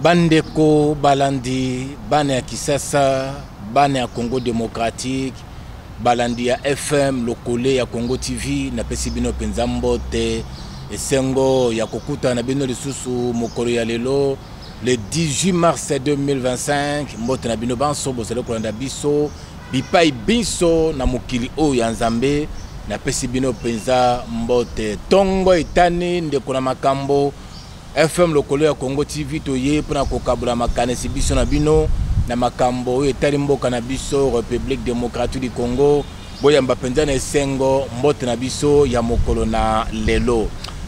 bandeko balandi bana ya kisasa bana ya congo démocratique balandi ya fm lokole ya congo tv napesi bino mpenza mbote esengo ya kokutana na bino lisusu mokolo ya lelo le 18 mars 2025 mbote na bino banso bozali kolanda biso bipai binso na mokili oyo ya nzambe napesi bino mpenza mbote ntongo etani ndeko na makambo FM lokolo ya Congo TV toye pona kokabola makanisi biso na bino na makambo oyo etali mboka na biso République démocratique du Congo boyamba mpenza na esengo mbote na biso ya mokolo na lelo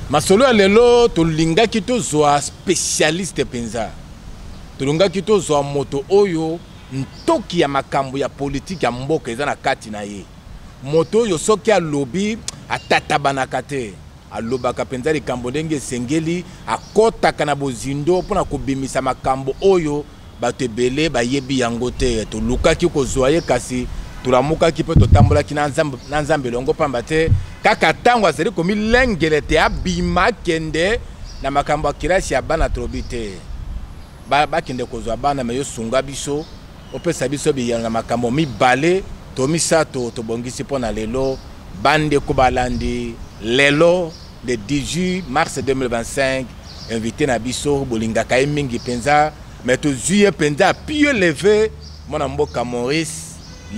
masolo ya lelo tolingaki tozwa spécialiste mpenza tolingaki tozwa moto oyo ntoki ya makambo ya politiki ya mboka eza na kati na ye moto oyo soki alobi atatabanaka te Alobaka mpenza likambo ndenge esengeli, akotaka na bozindo mpo na kobimisa makambo oyo bato ebele bayebi yango te. Tolukaki kozua ye kasi tolamukaki mpe totambolaki na nzambe, na nzambe elongo mpamba te kaka ntango azali komilengele te abima kende na makambo ya kelasi ya bana tolobi te bakende ba kozwa bana me yosunga biso Opesa biso biyano na makambo mibale to misato tobongisi mpo na lelo bandeko balandi lelo le 18 mars 2025 invité na biso bolingaka ye mingi mpenza mais tozwi ye mpenza pieu leve mwana mboka maurice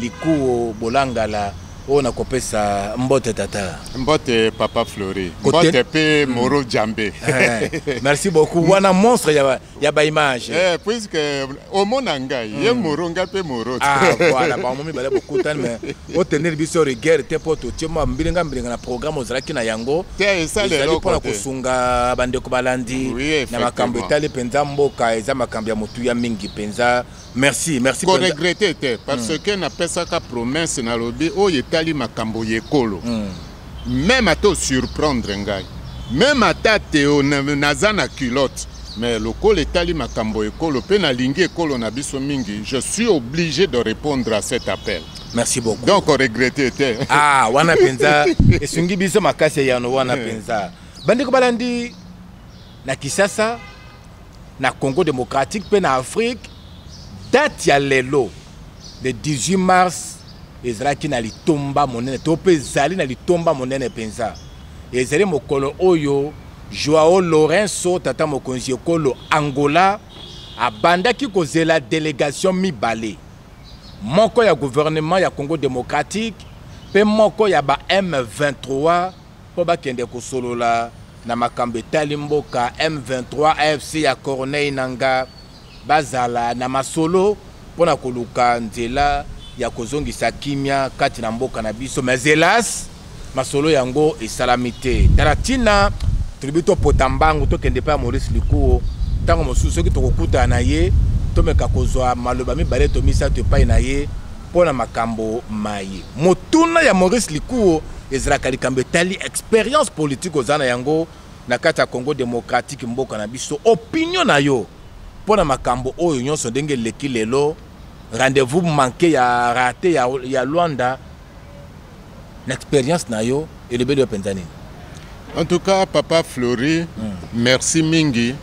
likuo bolangala oyo nakopesa mbote tata mbote papa flori mbote mpe moro jambe eh, merci beaucoup wana monstre ya ya ba image eh puisque omona ngai ye hmm. moro ngai mpe moro ah voilà bango mibale bokutani mais otenir biso rigueur te mpo totie mwa mbilinga mbilinga na programme ozalaki na yango ezali mpo na kosunga bandeko balandi na makambo etali mpenza mboka eza makambo ya motuya mingi mpenza merci merci ko regretter te parce mm. que napesaka promesse nalobi oyo etali makambo ya ekolo mm. meme ata osurprendre ngai meme ata teo naza na culotte mais lokola etali makambo ya ekolo mpe nalingi ekolo na biso mingi je suis obligé de répondre à cet appel merci beaucoup donc oregrete te ah wana mpenza esungi biso makasi ya yano wana mpenza eh. bandeko balandi na Kisasa na Congo démocratique mpe na Afrique date ya lelo le 18 mars ezalaki na litomba monene to mpe ezali na litomba monene mpenza ezali mokolo oyo Joao Lourenço tata mokonzi ekolo Angola abandaki kozela delegation mibale moko ya gouvernement ya Congo démocratique mpe moko ya ba M23 mpo bakende kosolola na makambo etali mboka M23 AFC ya Corneille Nangaa bazala na masolo mpo na koluka nzela ya kozongisa kimia kati na mboka na biso mais helas masolo yango esalami te tala ntina tolobi topota mbangu tokende epai ya maurice likuo ntango mosusu soki tokokutana na ye tomeka kozwa maloba mibale to misato epai na ye mpo na makambo maye motuna ya maurice likuo ezalaka likambo etali experience politike oza na yango na kati ya congo demokratike mboka na biso opinio na yo mpo na makambo oyo nyonso ndenge eleki lelo rendez-vous manke ya rate ya, ya lwanda na experience na yo elobeli yo mpenza nini en tout cas papa fleury mm. merci mingi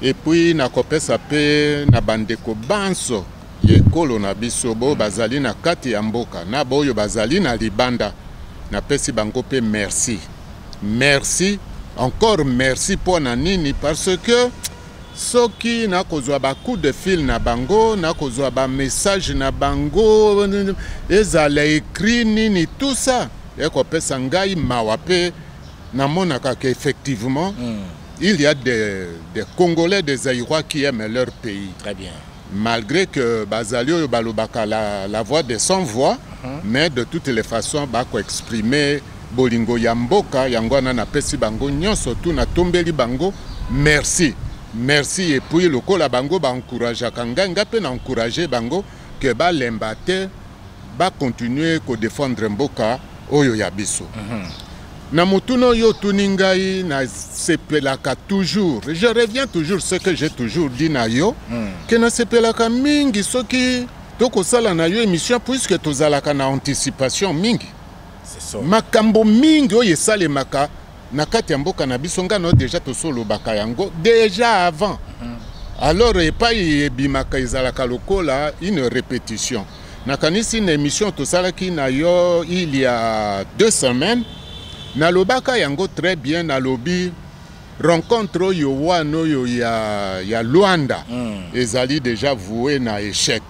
epuis nakopesa mpe na bandeko banso mm. ya ekolo na biso, baoyo bazali na kati ya mboka na baoyo bazali na libanda. Napesi bango mpe merci. Merci, encore merci mpo na nini? Parce que soki nakozwa ba coup de fil na bango, nakozwa ba message na bango, ezala écrit nini, tout ça ekopesa ngai mawa mpe namonaka ke effectivement mm. il y a des, des Congolais, des Zaïrois qui aiment leur pays. Très bien. malgre que bazali oyo balobaka la, la voix de sans voix uh mhm. -huh. mais de toutes les façons bakoexprime bolingo ya mboka yango wana napesi bango nyonso tu natombeli bango merci merci epuis lokola bango baencourageaka ngai ngai mpe na encourage bango ke balemba te bakontinue kodefendre mboka oyo ya biso uh mhm. -huh. Na motuna oyo otuni ngai na sepelaka toujours. Je reviens toujours ce que j'ai toujours dit na yo hmm. que na sepelaka mingi soki tokosala na yo émission puisque tozalaka na anticipation mingi. Makambo mingi oyo esalemaka na kati ya mboka na biso ngai na deja tosolobaka yango deja avant hmm. alors epai ebimaka ezalaka lokola une répétition Nakanisi na emission tosalaki na yo il y a deux semaines nalobaka yango très bien nalobi rencontre oyo wana oyo ya, ya Luanda mm. ezali déjà voué na échec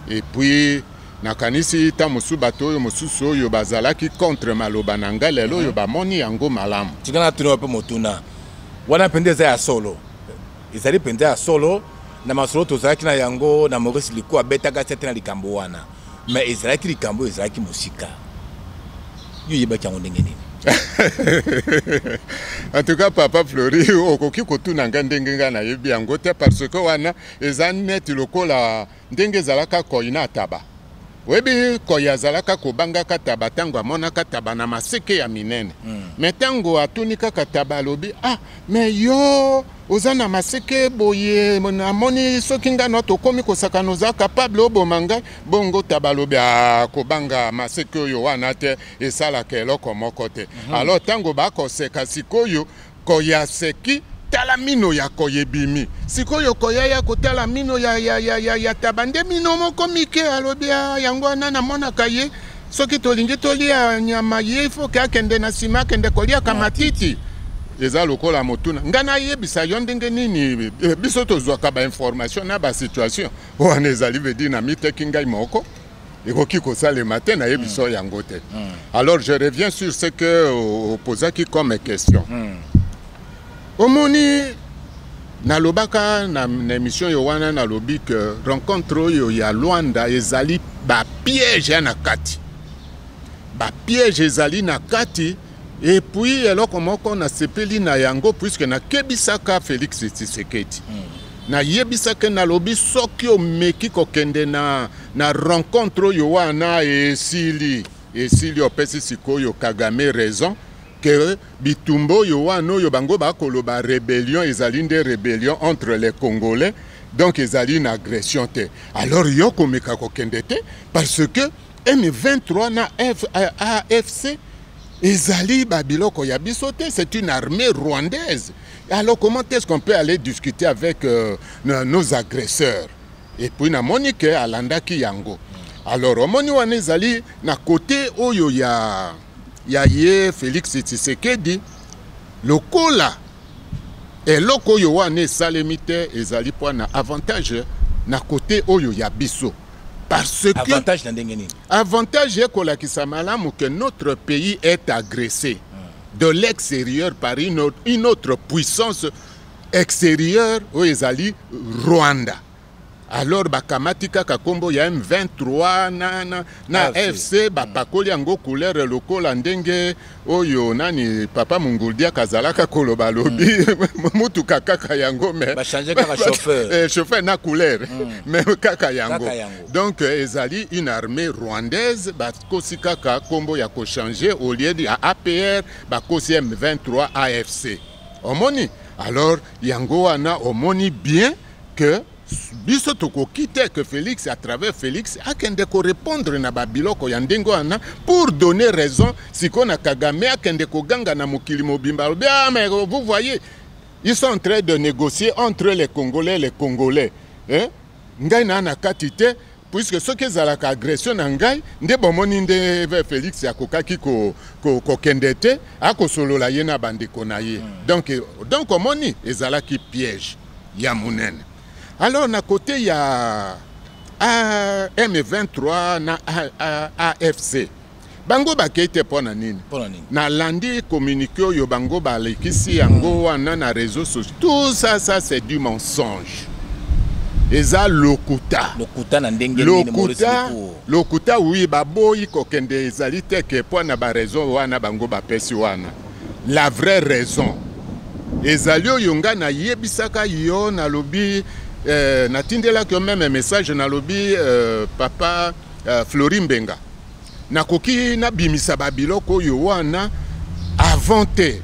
et puis nakanisi ta mosusu bato oyo mosusu oyo bazalaki contre maloba na ngai lelo oyo mm. bamoni yango malamu tika natuni wape motuna wana mpenza eza ya solo Ezali mpenza ya solo, na masolo tozalaki na yango na Maurice Liku abetaka sete na likambo wana, me ezalaki likambo oyo ezalaki mosika. Yo oyebaki yango ndenge nini? en tout cas papa flori okoki kotuna ngai ndenge ngai nayebi yango te parce que wana eza neti lokola Ndenge ezalaka koi na taba. Oyebi koi azalaka kobangaka taba ntango amonaka taba na maseke ya minene mm. me ntango atuni kaka taba alobi ah me yo oza na maseke boye namoni soki ngai na tokomi kosakana oza kapable oboma ngai bongo taba alobi ah, kobanga maseke oyo wana te esalaka eloko moko te mm -hmm. alors ntango bakoseka sikoyo Koya seki tala mino ya koya ebimi sikoyo koya ya kotala mino ya, ya, ya, ya, ya taba nde mino moko mike alobi ah, yango wana namonaka ye soki tolingi tolia nyama ye ifoke akende na nsima akende koliaka matiti eza lokola motuna ngai nayebisa yo ndenge nini eh, biso tozwaka bainformation na basituation wana ezali vedi na miteki ngai moko ekoki kosalema te nayebi so yango te alors je reviens sur ce que opozaki comme question omoni nalobaka na, na émission yo wana nalobi ke rencontre oyo ya luanda ezali bapiège ya na kati bapiège ezali na kati epuis eloko moko nasepeli na yango puiske nakebisaka félix tshisekedi mm. nayebisaki nalobi soki omeki kokende na Na rencontre oyo wana esili esili opesi sikoyo Kagame raison que bitumba oyo wana oyo bango bakoloba rebellion ezali nde rebellion entre les Congolais donc ezali na agression te alors yo komeka kokende te parce que M23 na F, euh, AFC ezali ba biloko ya biso te c'est une armée rwandaise alors comment est-ce qu'on peut aller discuter avec euh, nos agresseurs et puis na moni que alandaki yango alors omoni wana ezali na kote oyo ya, ya ye Felix Tshisekedi lokola eloko oyo wana esalemi te ezali mpo na avantage na kote oyo ya biso parce que avantage na ndenge nini avantage ekolakisa malamu que notre pays est agressé hmm. de l'extérieur par une autre, une autre puissance exterieur oyo ezali Rwanda alors bakamati kaka kombo ya M23 na, na, na FC bapakoli yango couleur lokola ndenge oyo nani papa Munguldia kazalaka koloba lobi mm. mutuka kaka yango mais ba changer kaka chauffeur eh, chauffeur na couleur mm. mais kaka yango. kaka yango donc euh, ezali une armée rwandaise bakosi kaka kombo ya ko changer au lieu ya APR bakosi M23 AFC Omoni? Alors, yango wana omoni bien que biso tokoki te que Felix à travers Felix akende ko répondre na babiloko ya ndenge wana pour donner raison siko na Kagame akende koganga na mokili mobimba alobi ah mais vous voyez ils sont en train de négocier entre les Congolais les Congolais hein? ngai na na kati te puisque soki ezalaka agression na ngai nde bomoni nde Felix akokaki kokende ko, ko te akosolola ye na bandeko na ye mm. donc donc omoni ezalaki piège ya monene alors na kote ya M23 na AFC bango bakei te mpo na nini nalandi communiqué oyo bango balekisi yango hmm. wana na réseau social tout ça ça c'est du mensonge eza lokuta lokuta na ndenge lokuta lokuta wi baboyi kokende ezali te ke mpo na baraison wana bango bapesi wana la vraie raison ezali oyo ngai nayebisaka yo nalobi eh, natindelaki yo meme message nalobi eh, papa eh, flori mbenga nakoki nabimisa babiloko oyo wana avant te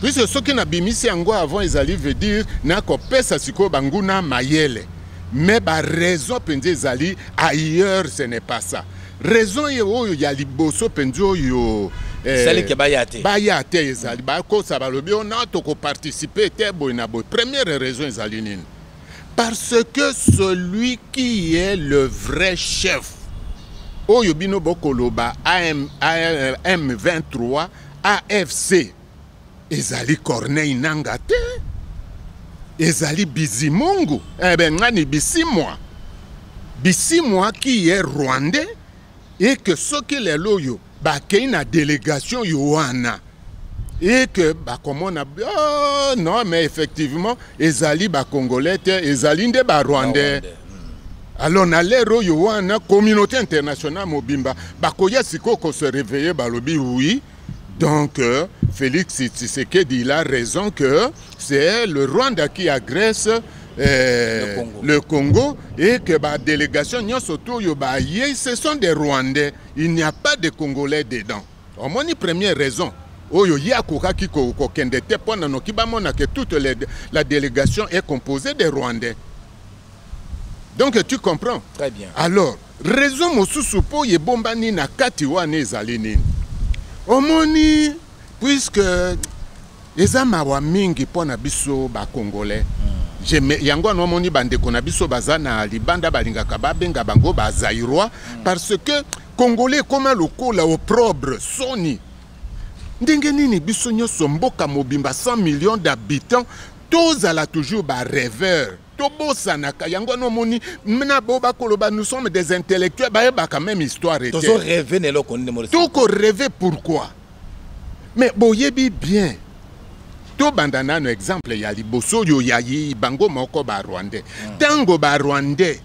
puisque soki nabimisi yango avant ezali veut dire nakopesa sikoyo banguna mayele mais baraison mpenza ezali ailleurs ce n'est pas ça raison ye oyo ya liboso mpenza oyo eh, salike baya te baya te ezali bakosa balobi ona tokoparticipe te boye na boye première raison ezali nini parce que celui qui est le vrai chef oyo bino bokoloba AM, AM, m23 afc ezali corneille nanga te ezali bizimungu ebe eh ngani bisimwa bisimwa qui est rwandais et que soki lelo oyo bakei na delegation yo wana et que bakomona oh, non mais effectivement ezali bacongolais te ezali nde barwandais hmm. alors na lere oyo wana communauté internationale mobimba bakoya sikoyo kose réveille balobi oui donc euh, félix tshisekedi il a raison que c'est le rwanda qui agresse euh, le, Congo. le Congo et que ba délégation nyonso to oyo baye ce sont des rwandais Il n'y a pas de Congolais dedans. Omoni première raison oyo ye akokaki kokende te mpo na noki bamona que toute les, la délégation est composée des Rwandais. Donc tu comprends Très bien. Alors, raison mosusu mpo ebombani na kati wana ezali nini? Omoni puisque eza mawa mingi mpo na biso ba congolais mm. yango wana omoni bandeko na biso baza na libanda balingaka babenga bango ba zairois mm. parce que congolais ekoma lokola oprobre soni ndenge nini biso nyonso mboka mobimba 100 millions d'habitants tozala toujours bareveur tobosanaka yango wana omoni na bo bakoloba nous sommes des intellectuels bayebaka même histoire te tokoreve pourquoi Mais boyebi bien tobanda nano exemple ya liboso oyo ya bango moko ba rwandais ntango ba rwandais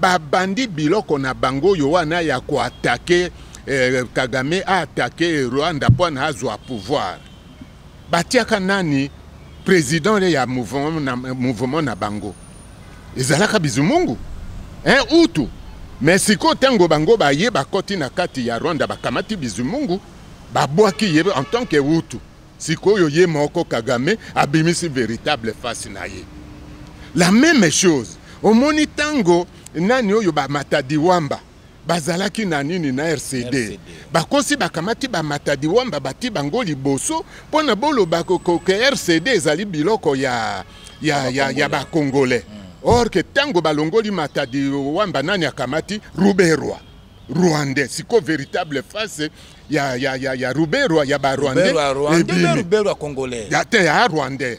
babandi biloko na bango oyo wana ya koatake eh, kagame aatake rwanda mpo na azwa pouvoir batiaka nani president le ya mouvement na, mouvement na bango ezalaka bizumungu eh, utu me sikoyo ntango bango baye bakoti na kati ya rwanda bakamati bizumungu babwaki ye en tant que utu sikoyo ye moko kagame abimisi véritable face na ye la même chose omoni ntango nani oyo bamatadi wamba bazalaki na nini na rcd, RCD. bakosi bakamati bamatadi wamba bati bango liboso mpo na boloba koke rcd ezali biloko ya, ya, ya, ya bakongole mm. or ke ntango balongoli matadi wamba nani akamati ruberwa rwandais siko véritable face ya, ya, ya, ya ruberwa ya barwandais ya te ya rwandais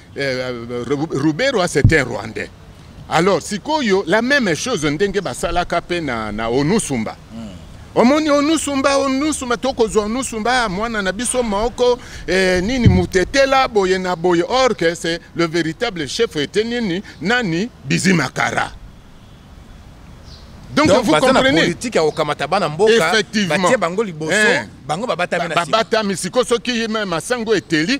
Ruberwa c'est un rwandais alors sikoyo la même chose ndenge basalaka mpe na, na onusumba mm. omoni onusumba onusumba tokozwa onusumba mwana na biso moko eh, nini mutetela boye na boye or que c'est le véritable chef ete nini nani bizimakara donc, donc vous comprenez politique ya kokamata bana mboka batie bango liboso eh, bango babatami na babatami sikoyo soki masango eteli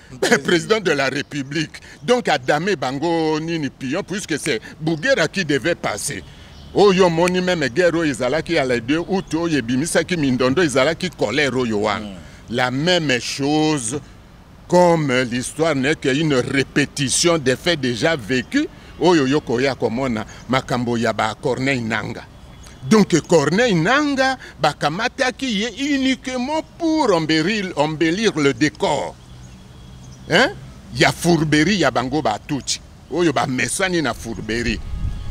président de la république donc adame bango nini pion puisque c'est bugera qui devait passer oyo omoni meme guerre oyo ezalaki ya le 2 août oyo ebimisaki mindondo ezalaki colère oyo wana mm. la même chose comme l'histoire n'est qu'une répétition des faits déjà vécus oyo yo koya komona makambo ya ba corneille nanga Donc Corneille Nanga bakamataki ye uniquement pour embellir, embellir le décor hein? ya fourberie ya bango batuti oyo bamesani na fourberie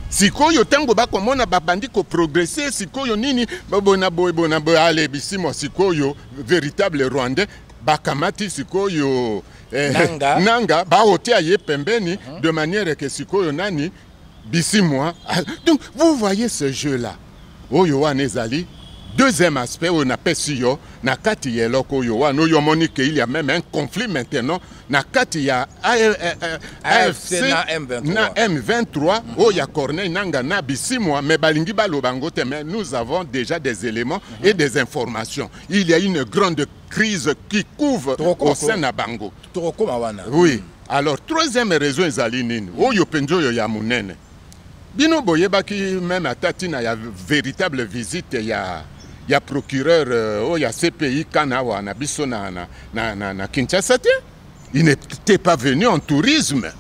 sikoyo ntango bakomona babandi koprogrese sikoyo nini bona boye bona boye ale bisimwa sikoyo véritable rwandais bakamati sikoyo eh, nanga, nanga baotia ye pembeni uh mhm. -huh. de manière ke sikoyo nani bisimwa ah, donc vous voyez ce jeu là oyo wana ezali deuxième aspect oyo napesi yo na kati ya eloko oyo wana oyo omoni ke il ya meme un conflit maintenant na kati ya afc eh, eh, na m23 oyo ya corneille nanga na bisimwa mais balingi baloba yango te mais nous avons déjà des éléments et des informations il y a une grande crise qui couve au sein na bango oui Alors troisième raison ezali nini oyo mpenza oyo ya monene bino boyebaki meme ata ntina ya véritable visite ya ya procureur euh, oyo ya cpi kana awa na biso na, na, na, na, na kinshasa te il n'était pas venu en tourisme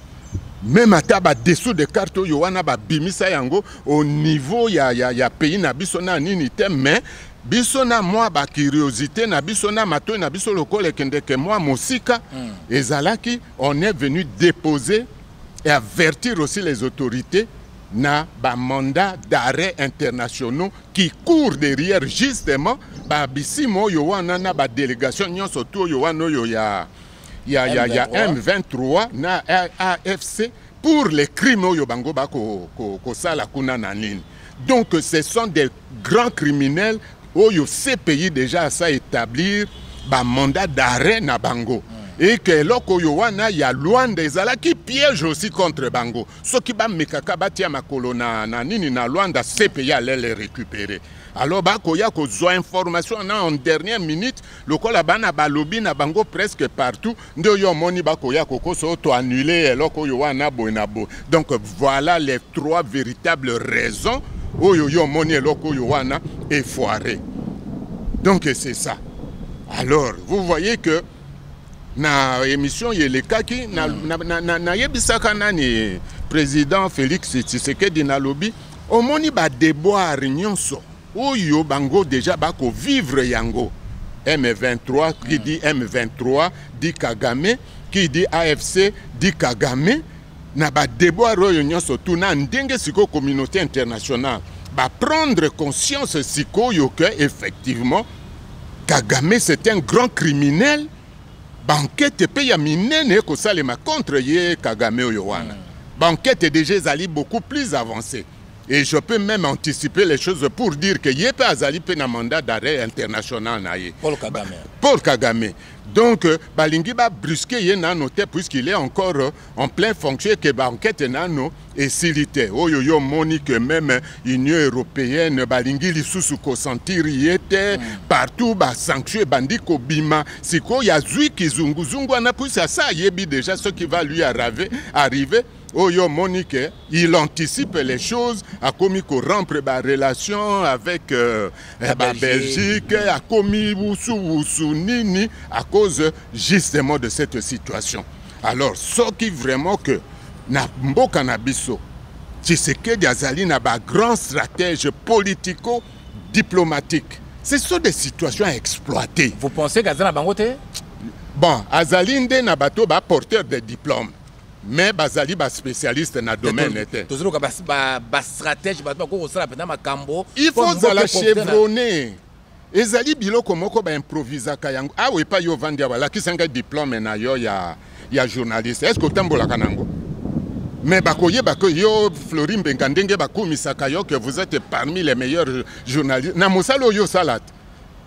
meme ata badessous de carte oyo wana babimisa yango au niveau ya, ya, ya pays na biso na nini te mais biso na mwa bacuriosité na biso na matoi na biso lokola ekendeke mwa mosika mm. ezalaki on est venu déposer et avertir aussi les autorités na bamanda d'arrêt internationaux qui courent derrière justement babisimo oyo wana na badélégation nyonso tu oyo wana oyo ya, ya, ya, ya m23 na afc pour les crimes oyo bango bakosala ko, ko kuna na nini Donc ce sont des grands criminels oyo CPI déjà asa établir ba mandat d'arrêt na bango. et que eloko oyo wana ya Luanda ezalaki piège aussi contre bango soki bamekaka batia makolo na, na nini na Luanda CPI allait les récupérer alors bakoya kozwa information na en dernière minute lokola bana balobi na bango presque partout nde yo omoni bakoya kokoso to annule eloko oyo wana boye na boye donc voilà les trois véritables raisons oyo yo omoni eloko oyo wana efoire donc c'est ça alors vous voyez que na émission ye elekaki nayebisaka hmm. na, na, na, nani président félix tshisekedi nalobi omoni badeboire nyonso oyo bango deja bako vivre yango M23 qui dit M23 dit Kagame qui dit AFC dit Kagame na ba devoir oyo nyonso tout na ndenge sikoyo communauté internationale ba prendre conscience sikoyo que effectivement Kagame c'est un grand criminel bankete mpe ya minene ekosalema contre ye Kagame oyo wana mm. bankete deja ezali beaucoup plus avancée Et je peux même anticiper les choses pour dire que Yepe Azali pe na mandat d'arrêt international na ye. Paul Kagame. Paul Kagame. Donc, euh, Balingi va brusquer ye nano te puisqu'il est encore euh, en plein fonction que ba enquête nano est silité. Oyo yo moni que même euh, Union européenne Balingi lisusu ko sentir yete mm. partout ba sanctions bandi ko bima. Siko ya zui kizungu zungu ana puisque ça yebi déjà ce qui va lui arriver arriver oyo omoni ke il anticipe les choses akomi korompre barelation avec euh, eh, babelgique akomi wusuwusu nini à cause justement de cette situation alors soki vraiment que na mboka na biso tshisekedi azali na bagrand stratège politico diplomatique ce sont des situations à exploiter vous pensez qu'aza na bango te bon azali nde na bato baporteur de diplôme mais bazali ba spécialiste na domaine te tozoloka ba ba, ba stratège bato bakoki kosala mpenza makambo il faut ozala chevronne ezali biloko moko baimprovisaka yango awa ah epai yo ovandi awa lakisa ngai diplome na yo ya, ya journaliste est ce que otambolaka na yango mais bakoyeba ke yo flori mbenga ndenge bakumisaka yo ke vous êtes parmi les meilleurs journalistes na mosala oyo osala te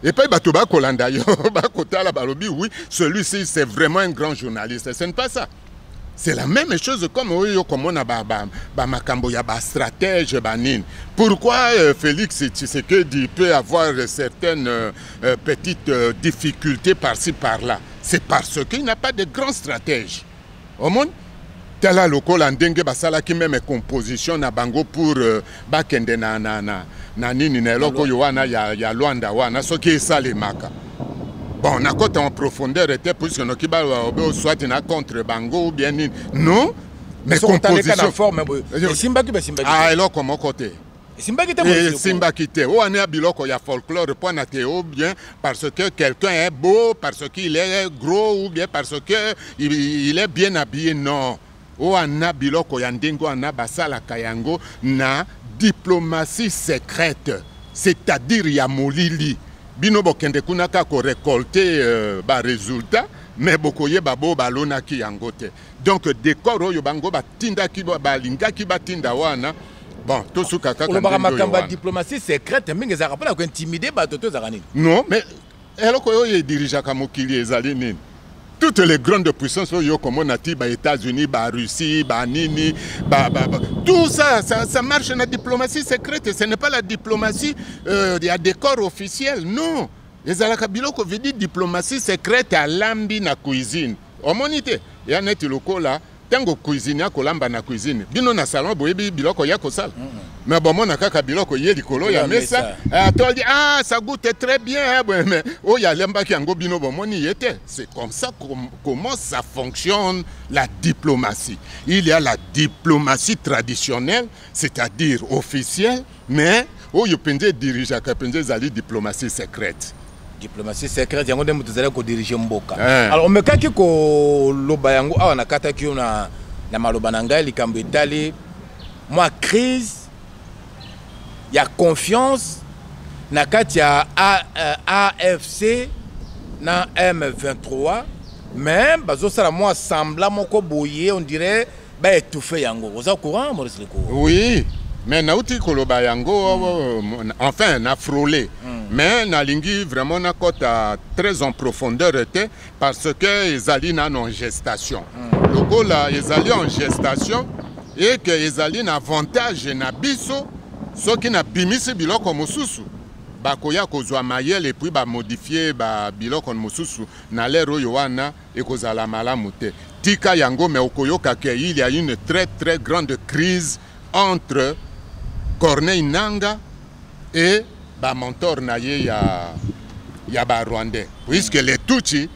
epai bato bakolanda yo bakotala balobi oui celui-ci c'est vraiment un grand journaliste ce n'est pas ça c'est la même chose comme oyo okomona bamakambo ya bastratège banini pourquoi euh, félix tshisekedi peut avoir certaines euh, euh, petites difficultés par-ci par-là c'est parce qu'il n'a pas de grand stratège omoni tala lokola ndenge basalaki meme composition na bango pour euh, bakende na, na, na, na nini na eloko oyo wana ya, ya lwanda wana soki esalemaka bon nakota en profondeur te puisque noki baobe soit na contre bango ou bien nini non mais composition forme boye esimbaki basimbaki ah eloko moko te esimbaki te eh, esimbaki te oyo wana ya biloko ya folklore mpo na te ou bien parce que quelqu'un est beau parce qu'il est gros ou bien parce que il, il est bien habillé non oyo wana biloko ya ndenge wana basalaka yango na diplomatie secrète c'est-à-dire ya molili bino bokende kuna kaka korecolte euh, baresultat me bokoyeba bo balonaki yango te donc decor oyo bango batindaki balingaki batinda wana bon tosuka kaka olobaka makambo ya diplomatie secrète mingi ezalaka mpona kointimide bato to ezalaka nini non mais eloko oyo edirigeaka mokili ezali nini toutes les grandes puissances oyo okomona ti ba états-unis ba russie ba nini ba, ba, ba. tout ça, ça ça marche na diplomatie secrète ce n'est pas la diplomatie euh, ya décor officiel non ezalaka biloko vidi diplomatie secrète alambi na cuisine omoni te ya neti lokola ntango cuisine ya kolamba na cuisine bino na salon boyebi biloko ya kosala mm -hmm. me bomona kaka biloko ye likolo ya mesa eh, atoldi ah ça goute très bien eh, boye me oyo alembaki yango bino bomoni ye te c'est comme ça com comment ça fonctionne la diplomatie il y a la diplomatie traditionnelle c'est-à-dire officielle Mais oyo penza edirigeaka penza ezali diplomatie secrète diplomatie secrète yango nde moto ezali kodirige mboka eh. alors omekaki koloba yango awa nakataki yo na, na maloba na ngai likambo etali mwa crise ya confiance na kati ya afc eh, na m23 mais bazosala mwa sembla moko boye on dirait ba étouffer yango oza courant Maurice Leko oui mais nauti koloba yango mm. enfin na frole mm. mais nalingi vraiment nakɔta très en profondeur te parce que ezali nano en gestation mm. lokola ezali en gestation et que ezali na avantage na biso soki nabimisi biloko mosusu bakoya kozwa mayele epuis bamodifie ba biloko mosusu na lere oyo wana Ekozala malamu te. Tika yango mais okoyoka que il y a une très très grande crise entre Corneille Nanga et ba mentor na ye ya ya ba Rwandais puisque les Tutsi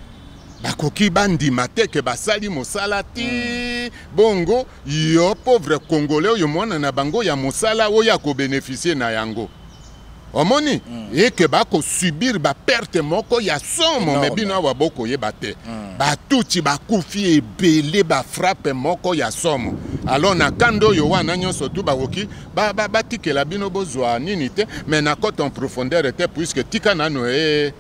bakoki bandima te ke basali mosala ti mm. bongo yo pauvre congolais oyo mwana na bango ya mosala oyo akobeneficie na yango omoni mm. eke bakosubir baperte moko ya somo me bino awa bokoyeba te mm. batuti bakufi ebele bafrappe moko ya somo alors na kanda oyo wana nyonso tu bakoki batikela ba, ba bino bozwa nini te me nakota en profondeur te puiske tika nano e eh,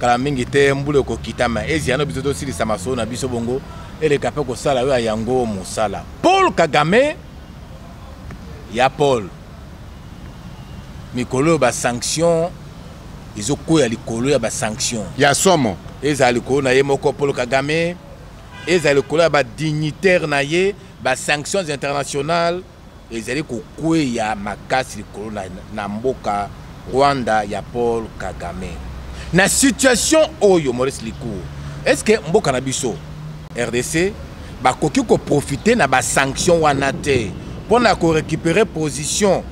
kala mingi te mbula ekokita ma eziano biso tosilisa masolo na biso bongo eleka mpe kosala oyo ya yango mosala paul kagame ya paul mikolo oyo basanction ezokweya likolo ya basanction ya somo ezala likolo na ye moko paul kagame ezala likolo ya badignitaire na ye basanctions internationales ezali kokweya makasi likolo na, na mboka Rwanda ya Paul Kagame. Na situation oyo Maurice Likou, est-ce que mboka na biso RDC bakoki ko profiter na ba sanctions wana te pona ko récupérer position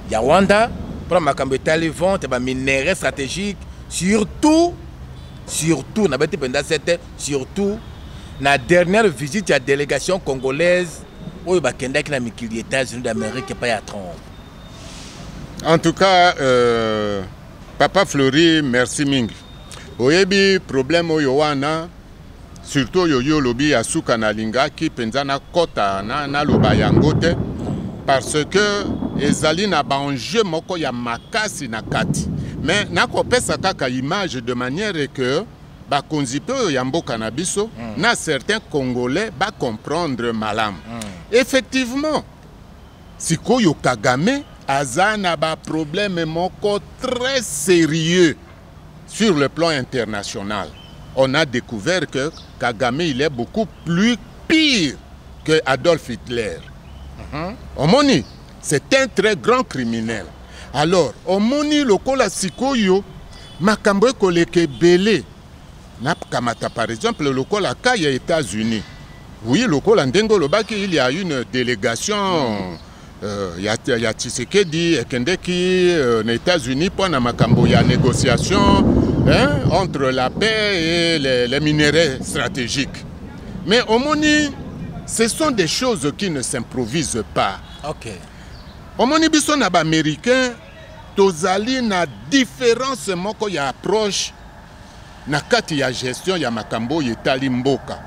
ya Rwanda pona makambo etali vente ya ba minerais stratégiques surtout surtout na beti penza sete surtout na dernière visite ya délégation congolaise oyo bakendaki na mikili ya états-unis d'amérique epai ya trompe en tout cas euh, papa fleury merci mingi oyebi problème oyo wana surtout oyo yo olobi ya suka nalingaki mpenza nakɔta naloba na yango te parce que ezali na baenjeu moko ya makasi na kati mais nakopesa kaka image de manière que bakonzi mpe oyo ya mboka na biso mm. na certains congolais bacomprendre malamu mm. effectivement sikoyo kagame aza na baproblème moko très sérieux sur le plan international on a découvert que kagame il est beaucoup plus pire que adolphe hitler mm -hmm. omoni c'est un très grand criminel alors omoni lokola sikoyo makambo ekoleka ebele nakamata par exemple lokola ka ya états-unis oui lokola ndenge olobaki il y a une délégation mm. euh, ya, ya tshisekedi ekendeki euh, na états-unis mpo na makambo ya négociation hein, entre la paix et les, les minerais stratégiques mais omoni ce sont des choses qui ne s'improvisent pas okay. omoni biso na baaméricain tozali na difference moko ya approche na kati ya gestion ya makambo oyo etali mboka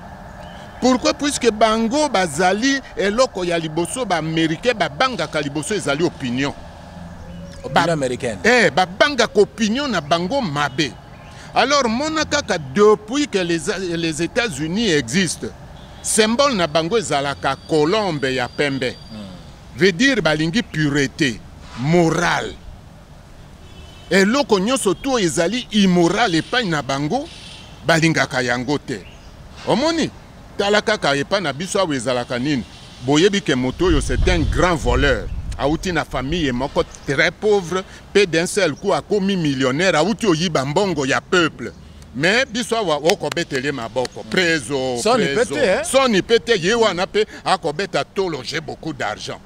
pourquoi puisque bango bazali eloko ya liboso baaméricain babangaka liboso ezali opinion ba, eh, babangaka opinion na bango mabe alors mona kaka depuis que les, les états-unis existent symbole na bango ezalaka colombe ya pembe mm. Veut dire balingi purete morale. Eloko nyonso tu oyo ezali immoral epai na bango balingaka yango te. Omoni? Tala kaka epai na biso awa ezalaka nini? Boyebi ke moto oyo c'est un grand voleur. Awuti na famille moko très pauvre pe d'un seul coup akomi millionnaire, awuti oyiba mbongo ya peuple. me biso awa okobetele ye maboko prezo soni pe te ye wana mpe akobeta tolo je beaucoup d'argent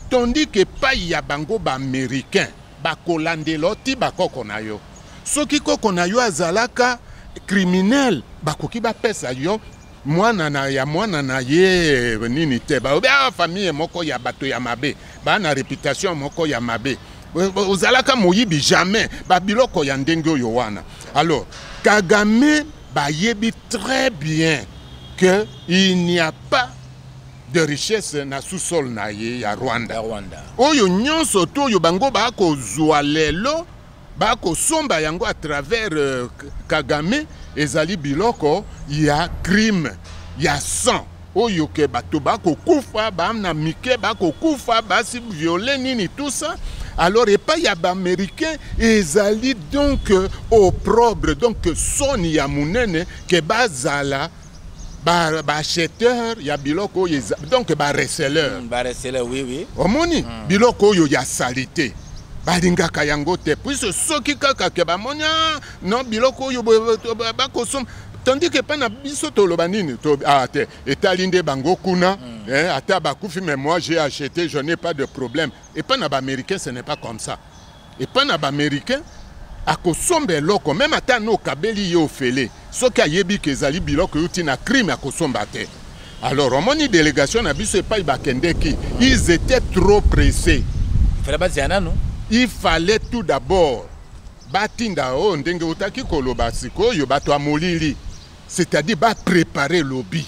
tandis ke pai ya bango baaméricain bakolandela ti bakoko na yo soki koko na yo azalaka criminel bakoki bapesa yo mwana na ya mwana na ye nini te balobi awa ah, famille moko ya bato ya mabe baa na reputation moko ya mabe ozalaka moyibi jamais babiloko ya ndenge oyo wana alors kagame bayebi très bien que il n'y a pas de richesse na sous-sol na ye ya rwanda oyo nyonso to oyo bango bakozwa lelo bakosomba yango à travers euh, kagame ezali biloko ya crime ya sang oyo ke bato bakokufa bana mike bakokufa basi viole nini tout ça alors epai ya baaméricain ezali donc euh, opprobre donc soni ya monene ke bazala baacheteur ya biloko oyo donc bareceleur mm, bareceleur oui oui omoni mm. biloko oyo ya salite balingaka yango te puise soki kaka ke bamoni ah, no biloko oyo bakosomba tandis ke mpa na biso toloba nini to, ah, te etali nde bango kuna mm. eh, ata bakufi mais moi j'ai acheté je n'ai pas de problème epa na baaméricain ce n'est pas comme ça epai na baamericain akosomba eloko meme ata no okabeli ye ofele soki ayebi ke ezali biloko euti na crime akosomba te alors omoni delegation na biso epai bakendeki ils étaient trop pressés fela bazela nanu il fallait tout d'abord batinda oyo oh, ndenge otaki koloba sikoyo bato ya molili C'est-à-dire ba préparer lobby,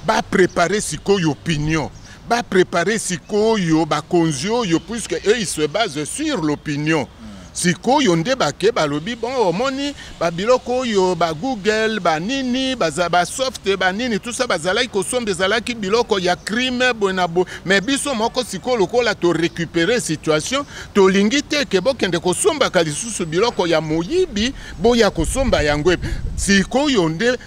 ba préparer sikoyo opinion, ba préparer sikoyo ba konzi oyo puisque eux ils se basent sur l'opinion. sikoyo nde bake balobi bon omoni babiloko oyo ba google banini basoft banini tusa bazalaki kosomba ezalaki biloko ya crime boye na boye me biso moko sikoyo lokola torecupere situation tolingi te ke bokende kosombaka lisusu biloko ya moyibi boya kosomba yango sikoyo nde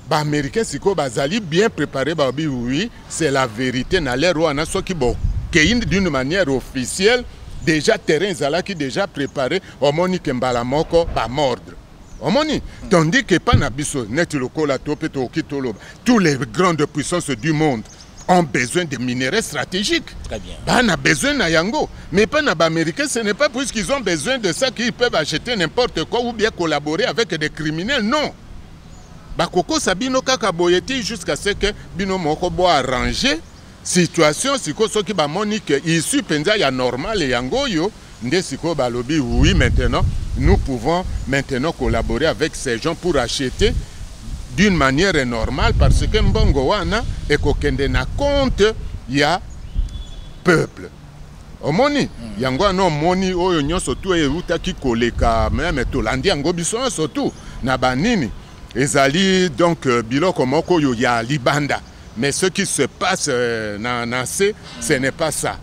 baaméricain sikoyo bazali bien prépare babi oui c'est la vérité na lere wana soki bokei d'une manière officielle déjà terrain ezalaki déjà préparé omoni ke mbala moko bamordre omoni tandis ke epa na biso neti lokola to mpe tokoki toloba tous les grandes puissances du monde ont besoin de minerais stratégiques. Très bien. Bah, on a besoin de Yango. Mais pas les Américains, ce n'est pas puisqu'ils ont besoin de ça qu'ils peuvent acheter n'importe quoi ou bien collaborer avec des criminels. Non. Bakoko Sabino Kaka Boyeti jusqu'à ce que Bino Mokobo a rangé situation, si ko soki ba monique, issu penza ya normal yango yo. nde sikoyo balobi oui maintenant nous pouvons maintenant collaborer avec ces gens pour acheter d'une manière normale parce que mbongo wana ekokende na compte ya peuple omoni mm. yango wana omoni oyo nyonso tu eutaki koleka meme tolandi yango biso nyonso tu na banini ezali donc euh, biloko moko oyo ya libanda mais ce qui se passe euh, na, na se ce n'est pas ça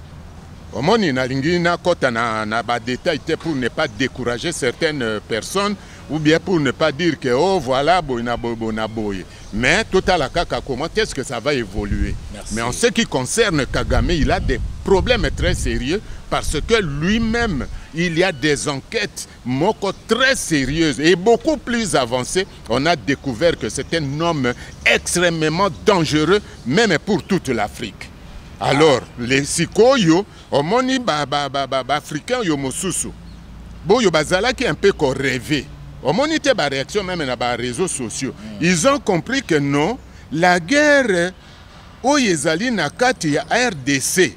Omoni nalingi nakota na, na ba detail te pour ne pas décourager certaines personnes ou bien pour ne pas dire que oh voilà boye na boye boye na boye mais totala kaka comment est-ce que ça va évoluer Merci. mais en ce qui concerne Kagame il a des problèmes très sérieux parce que lui-même il y a des enquêtes moko très sérieuse et beaucoup plus avancée, on a découvert que c'est un homme extrêmement dangereux, même pour toute l'Afrique. Alors, ah. les sikoyo, omoni ba, ba, ba, ba, ba africains yo mosusu, boyo bazalaki un peu ko rêver. Omoni te ba réaction même na ba réseaux sociaux. Mm. Ils ont compris que non, la guerre oyo ezali na kati ya RDC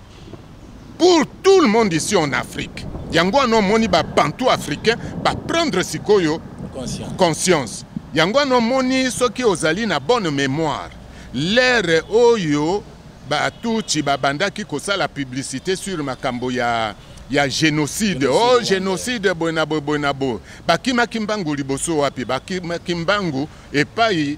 pour tout le monde ici en afrique yango wana omoni babantu africain baprendre sikoyo conscience, conscience. yango wana omoni soki ozali na bonne mémoire lere oyo batuti babandaki kosala publicité sur makambo ya ya génocide o oh, génocide boye na boye boye na boye bakimaki mbangu liboso wapi bakimaki mbangu epai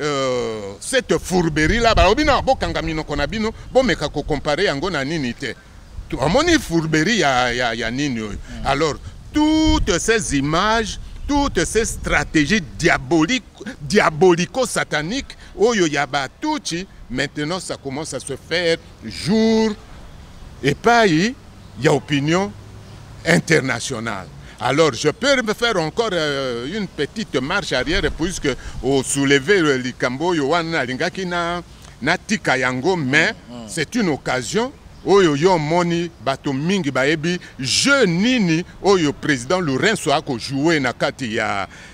Euh, cette fourberie là balobi na bokanga minoko na bino bomeka kocompare yango na nini te amoni fourberie ya, ya, ya nini oyo mm. alors toutes ces images toutes ces stratégies diaboliques, diabolico-sataniques, Oyo Yaba Tucci, maintenant ça commence à se faire jour epayi ya opinion internationale alors je peux me faire encore euh, une petite marche arrière puisque osouleve euh, likambo oyo wana nalingaki na natika yango mais mm, mm. c'est une occasion oyo yo omoni bato mingi bayebi jeu nini oyo président lourenso akojoue na kati ya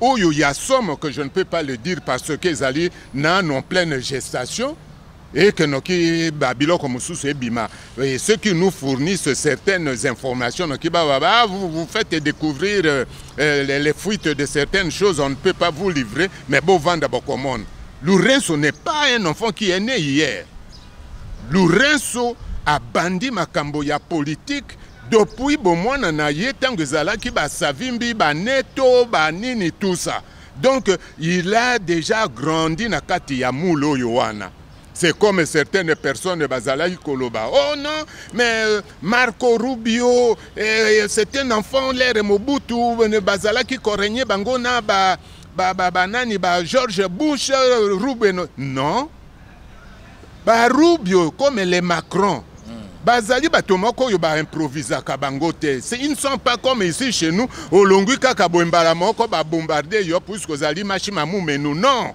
Oyo ya somo que je ne peux pas le dire parce que ezali nanu en pleine gestation et que noki ba biloko mosusu ebima et ceux qui nous fournissent certaines informations noki ba ba ah, vous, vous faites découvrir euh, euh, les, les fuites de certaines choses on ne peut pas vous livrer mais bo vanda bo commande Lourenço n'est pas un enfant qui est né hier Lourenço abandi makambo ya politique Depuis bomwana na ye tango ezalaki ba savimbi ba neto ba nini tout ça donc il a déjà grandi na kati ya moule oyo wana c'est comme certaines personnes bazalaki koloba oh non mais euh, marco rubio eh, c'est un enfant lere mobutu euh, bazalaki koregne bango na ba, ba, ba, ba nani ba george bush euh, rubio non ba rubio comme les macron mm. bazali bato moko oyo baimprovisaka bango te ils ne sont pas comme ici chez nous olongwi kaka boye mbala moko babombarde yo puiske ozali mashi mamumenu non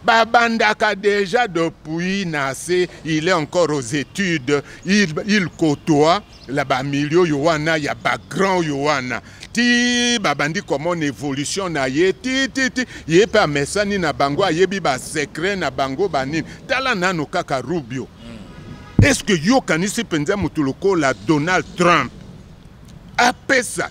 babandaka déjà depuis na se il est encore aux études il, il côtoie la ba milieu yo wana ya ba grand yo wana ti babandi komona evolution na ye ti ti ti ye mpe amesani na bango ayebi basecret na bango banini tala nano kaka rubio mm. est ce que yo okanisi mpenza moto lokola donald trump apesa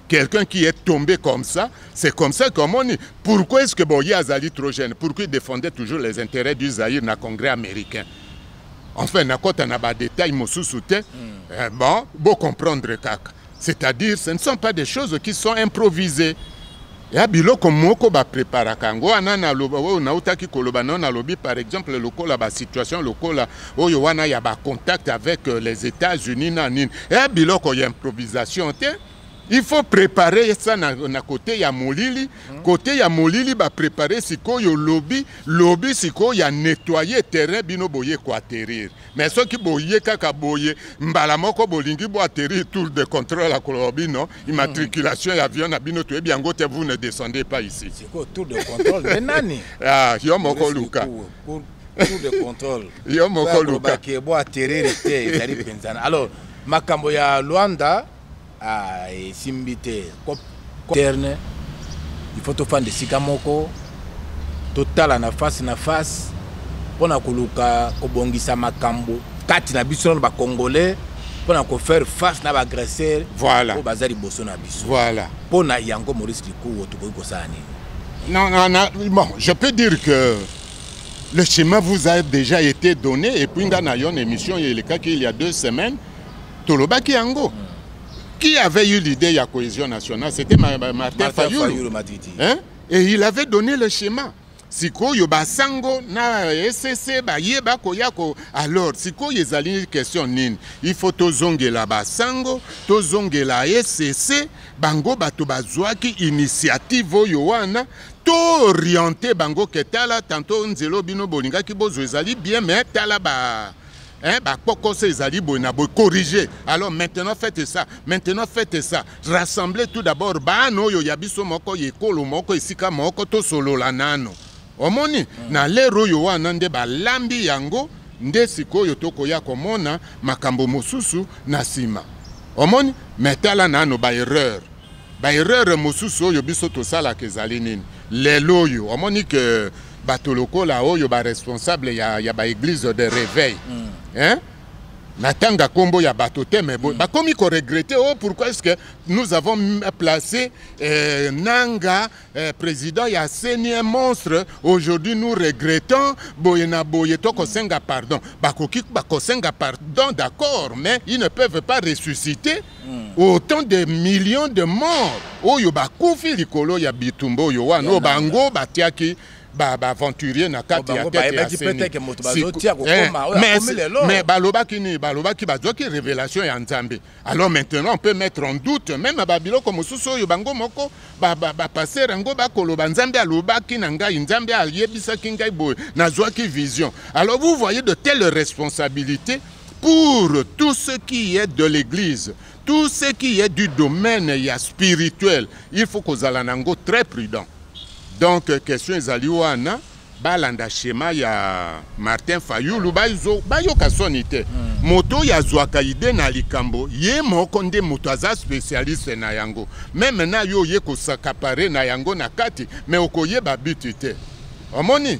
quelqu'un qui est tombé comme ça, c'est comme ça qu'on dit pourquoi est-ce que Boye Azali trop jeune Pourquoi il défendait toujours les intérêts du Zaïre dans le Congrès américain Enfin, na kota na ba détails mosusu te. Hmm. Eh, bon, beau comprendre kaka. C'est-à-dire, ce ne sont pas des choses qui sont improvisées. ya biloko moko bapreparaka yango wana naloba oyo nautaki koloba nao nalobi par exemple lokola basituation lokola oyo wana ya bacontact avec euh, les états-unis na nini ya biloko ya improvisation te il faut préparer ça na, na côté ya molili mm. côté ya molili ba préparer sikoyo lobi lobi sikoyo ya nettoyer terrain bino boye ko atterrir mais soki boye kaka boye mbala moko bolingi bo atterrir tour de contrôle ya koloba bino immatriculation mm. ya avion na bino toyebi yango te vous ne descendez pas ici sikoyo tour de contrôle mais nani ah yo moko luka tour de contrôle yo moko luka bo atterrir te ezali penzana alors makambo ya Luanda Ah, esimbi te. Terne, il faut tofanda esika moko, totala na face na face mpo na koluka kobongisa makambo kati na biso na bacongolais mpo na kofaire face na baagresseur voilà. oyo baza liboso na biso voilà. mpo na yango maurice likuo tokoki kosala nini non, non, non, bon, je peux dire que le chemin vous a déjà été donné et puis nga na yo na émission elekaki il y a deux semaines tolobaki yango qui avait eu l'idée ya cohésion nationale c'était martin, martin fayulu hein? et il avait donné le schéma sikoyo basango na esese baye bakoya ko alors sikoyo ezali question nini il faut tozongela basango tozongela esese bango bato bazwaki initiative oyo wana tooriente bango ke tala tanto nzelo bino bolingaki bozwa ezali bien mais tala ba Hein, bah, pourquoi ces alibos n'a pas corrigé Alors maintenant faites ça, maintenant faites ça. Rassemblez tout d'abord, bah non, yo yabiso moko yekolo moko esika moko to solo la nano. Omoni, mm. na lero yo wana nde ba lambi yango, nde sikoyo tokoya komona makambo mosusu na sima. Omoni, mais tala nano ba erreur. ba erreur mosusu oyo biso tosalaka ezali nini lelo oyo omoni ke bato lokola oyo ba responsable ya, ya ba eglise de réveil mm. hein? natanga nkombo ya bato te me mm. bakomi koregrete o oh, pourquoi est ce que nous avons placé euh, nanga euh, président ya seni un monstre aujourd'hui nous regrettons boye na boye tokosenga pardon bakoki bakosenga pardon d'accord mais ils ne peuvent pas ressusciter Hmm. autant de millions de morts oyo bakufi likolo ya bitumba oyo wana oyo bango batiaki baaventurier na kati oh, ya tete ya senimais eh, balobaki nini balobaki bazwaki révélation ya nzambe alors maintenant on peut mettre en doute même na babiloko mosusu oyo bango moko bapaster yango bakoloba nzambe alobaki na ngai nzambe ayebisaki ngai boye nazwaki vision alors vous voyez de telle responsabilité Pour tout ce qui est de l'église, tout ce qui est du domaine ya spirituel, il faut kozala nango très prudent. Donc question ezali wana balanda schéma ya Martin Fayulu bayo bayoka soni te. Hmm. Moto ya zwaka idée na likambo ye moko nde moto aza spécialiste na yango. Meme na yo ye kosakapare na yango na kati mais okoyeba but te. Omoni?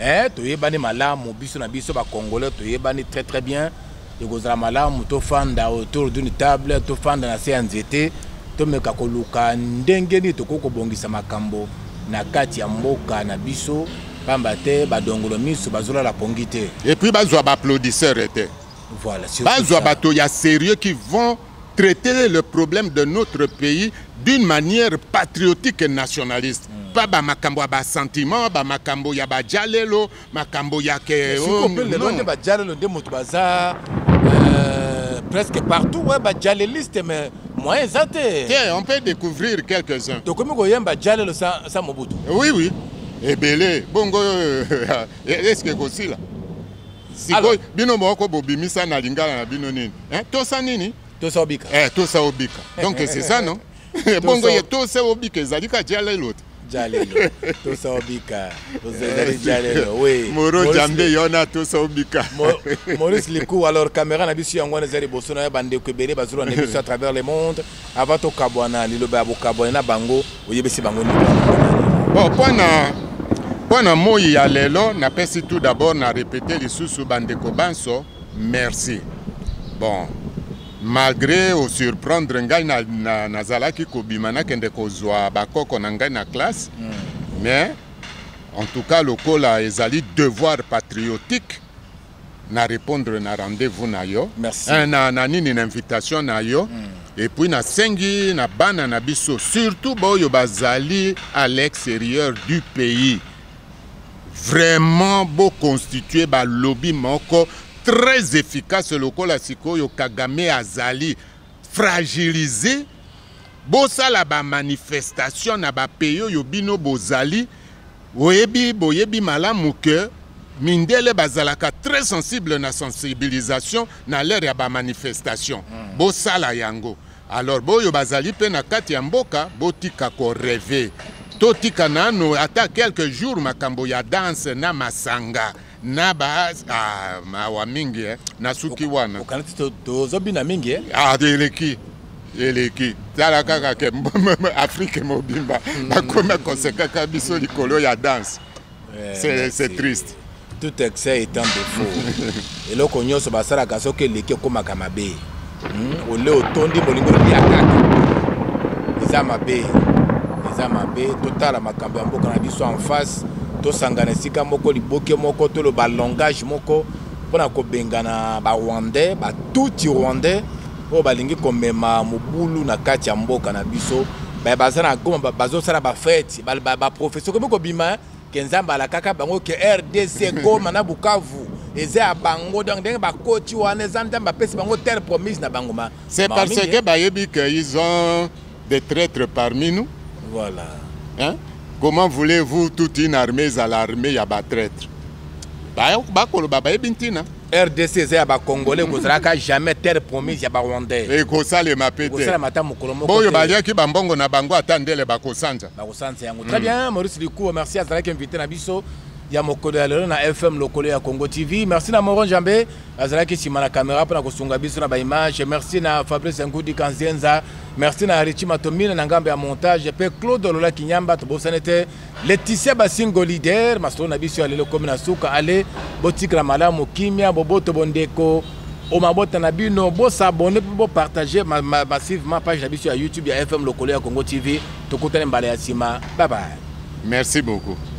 eh, toyebani malamu biso na biso bakongole toyebani très très bien ekozala malamu tofanda autour d'une table tofanda na se ya nzete tomeka koluka ndenge nini tokoki kobongisa makambo na kati ya mboka na biso pamba te badongolo miso bazolala pongi te epuis bazwa baapplaudisseur te voilà, bazwa bato ya sérieux qui vont traiter le problème de notre pays d'une manière patriotique et nationaliste mm. pas ba makambo ya ba sentiment ba makambo ya ba jalelo makambo ya ke oh, lelo nde ba jalelo nde moto baza euh, presque partout ouais ba jaleliste mais moyen eza te te on peut découvrir quelques uns tokomi koyemba jalelo sa, sa mobutu oui oui ebele bongo euh, est ce que ekosila sikoyo bino moko bobimisa na lingala na bino nini eh, tosa nini tosa obika eh, tosa obika donc c'est ça non bongo ye tosa obika ezali ka jalelo te jalelo tosa obika ozali jalelo oui moro jambe yona tosa obika maurice likou alors caméra na biso yango wana eza liboso na yo bandeko ebele bazolanda biso à travers le monde Avant to kabwana liloba ya bokabwani na bango oyebisi bango nini? Bon, mpo na mpo na moi ya lelo napesi tout d'abord na repete lisusu bandeko banso merci. Bon, malgré osurprendre ngai nazalaki na, na kobima nakende kozwa bakoko na ngai na classe mm. mais en tout cas lokola ezali devoir patriotique na repondre na rendez-vous na yo eh, na, na nini na invitation na yo mm. epuis nasengi na bana na biso surtout baoyo bazali à l'extérieur du pays vraiment boconstitue balobi moko très efficace lokola sikoyo kagame azali fragilise Bosala ba manifestation na ba pays oyo bino bozali oyebi boyebi malamu que mindele bazalaka très sensible na sensibilisation na l'heure ya ba manifestation hmm. bosala yango alors boyo bazali mpe na kati ya mboka botika koreve totika nano ata quelques jours makambo ya danse na masanga na ba ah, mawa mingi eh. nasuki wana okanisi tozobina mingi eh? ah, eleki eleki tala kaka ke afrike mobimba hmm. bakoma kosekaka biso likolo ya danse eh, c'est triste tout excès étant défaut eloko nyonso basalaka soki eleki ekomaka mabe Hmm, ole otondi bolingo lia kaka eza mabe eza mabe totala makambo ya mboka na biso en face tosangana esika moko liboke moko toloba langage moko mpona kobengana barwandais batuti rwandais oyo balingi komema mobulu na kati ya mboka na biso baza na goma bazosala bafete baprofesio komi kobima ke nzambe alakaka bango ke rdc goma na bukavu eza ya bango donc ndenge bakoti wana eza nzambe apesi bango terre promise na bango ma c'est parce que bayebi que ils ont des traîtres parmi nous voilà hein? comment voulez-vous toute une armée ezala armée ya batraître bakoloba bayebi ntina rdc eza ya bacongolais kozalaka jamais terre promise ya barwandais ekosalema pe tekosalema ata mokolo moko oyo baliaki bambongo na bango ata ndele bakosanza bakosanza yango très bien maurice likuwa merci azalaki invité na biso ya mokolo ya lelo na fm lokolo ya congo tv merci na moron jambe azalaki nsima na kamera mpo na kosunga biso na baimage merci na fabrice ngudi kanzenza merci na richi matomine na ngambo ya montage mpe claude lola kinyamba tobosani te Laetitia Basingo leader masolo na biso ya lelo komi na suka ale botikala malamu kimia boboto bondeko o mabota na bino bosabone mpe bopartage massivement page na biso ya youtube ya fm lokolo ya congo tv tokutani mbala ya nsima babaye merci beaucoup